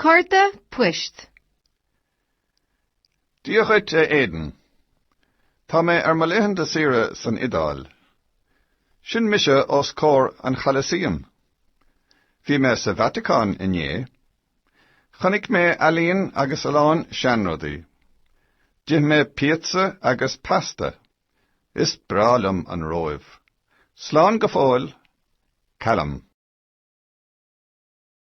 Cárta poist. Dia dhuit, a Aidan. Tá mé ar mo laethanta saoire san Iodáil. Sin mise os comhair an Cholosseum. Bhí mé sa Vatacáin inné. Chonaic mé ealaín agus a lán seanrudaí. D'ith mé píotsa agus pasta. Is breá liom an Róimh. Slán go fóill, Callum.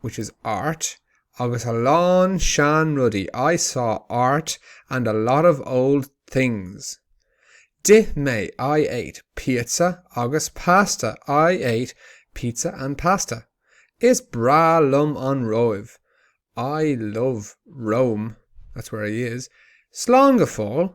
which is art, agus a lán seanrudaí, I saw art and a lot of old things. D'ith mé, I ate, píotsa agus pasta, I ate pizza and pasta. Is breá liom an Róimh, I love Rome, that's where he is. Slán go fóill.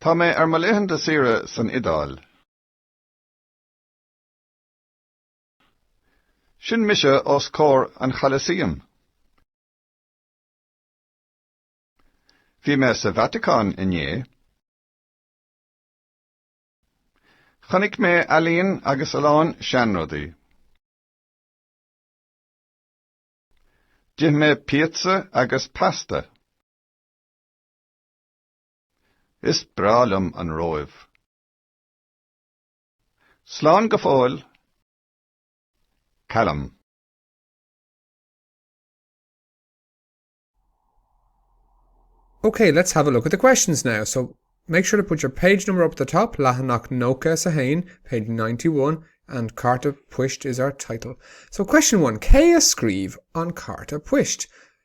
Tá mé ar mo laethanta saoire san Iodáil. Sin mise os comhair an Cholosseum. Bhí mé sa Vatacáin inné. Chonaic mé ealaín agus a lán seanrudaí. D'ith mé píotsa agus pasta. Is breá liom an Róimh. Slán go fóill, Callum. Ok, let's have a look at the questions now. So, make sure to put your page number up at the top, leathanach nócha is a haon, page ninety one, and Cárta Poist is our title. So, question one, cé a scríobh an cárta poist?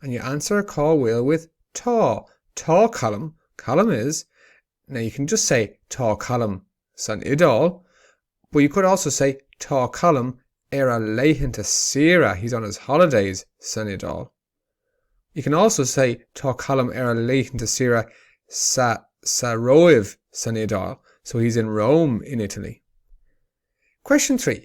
And you answer a call wheel with Tá, tá Colm, Colm is Now you can just say Tá Colm san Iodáil but you could also say Tá Colm ar a laethanta saoire, he's on his holidays, san Iodáil. You can also say Tá Colm ar a laethanta saoire sa, sa Róimh, san Iodáil, so he's in Rome, in Italy. Question 3.